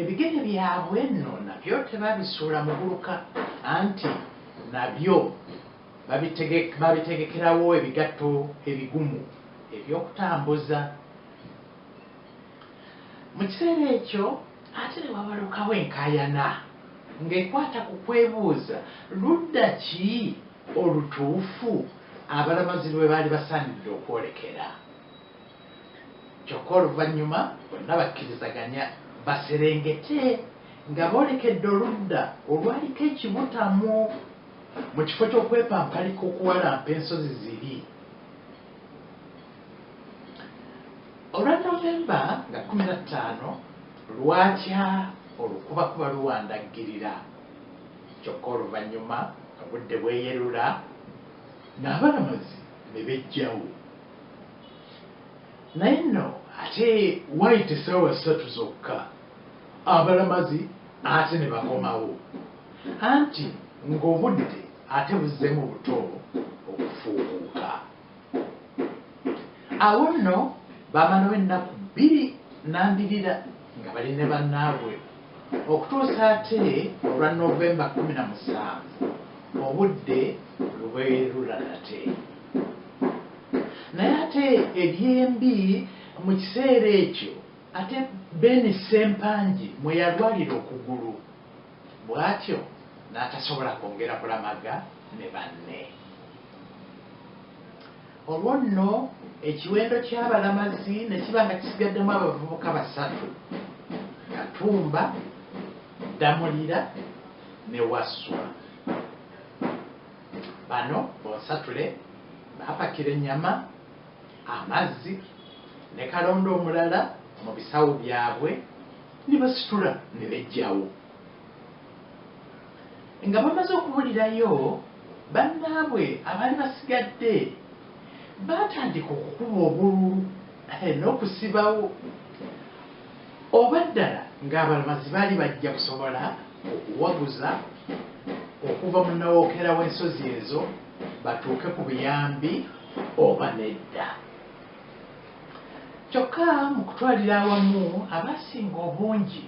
Ebigere byabwe nno nabyo tebabisuula muguluka, anti nabyo babitegekerawo ebigatto ebigumu eby'okutambuza. Mu kiseera ekyo ate ne wabalukawo enkaayana ng'ekwata ku kwebuuza ludda ki olutuufu abalamazi lwe baali basaanidde okwolekera. Kyokka oluvannyuma bonna bakkirizaganya baserengete nga boolekedde oludda olwaliko ekibutamu mu kifo ky'okwepampalika okuwalampa ensozi ziri. Olwa November nga kkumi na ttaano lwakya olukubakuba luwandaggirira kyokka oluvannyuma obudde bweyerula n'abalamuzi ne beggyawo. Naye nno ate why tesawa satu zokka abalamazi ate nebakomawo anti nga obudde ate buzzemu buto okufuukuuka awo nno bamalawo ennaku bbiri nambirira nga bali ne banaabwe okutuusa ate olwa November kumi na musanvu obudde lweberula nate. Naye ate ebyembi mu kiseera ekyo ate Ben Ssempangi mwe yalwalira okugulu bwatyo n'atasobola kwongera kulamaga ne banne. Olwo nno ekiwendo ky'abalamazi ne kiba nga kisigaddemu abavubuka basatu, Katumba, Ddamulira ne Wasswa. Bano bonsatule baapakira ennyama, amazzi ne kalonda omulala mu bisawo byabwe ne basitula ne beggyawo. Nga bamaze okubulirayo, bannaabwe abaali basigadde baatandika okukuba obululu n'okusibawo oba ddala ng'abalamazi baali bajja kusobola okuwaguza okuva mu nawokera w'ensozi ezo batuuke ku buyambi oba nedda. Kyokka mu kutwalira awamu abaasinga obungi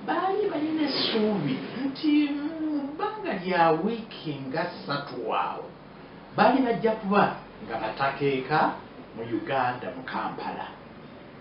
baali balina essuubi nti mu bbanga lya wiiki nga ssatu awo baali bajja kuba nga batakeeka mu Uganda mu Kampala.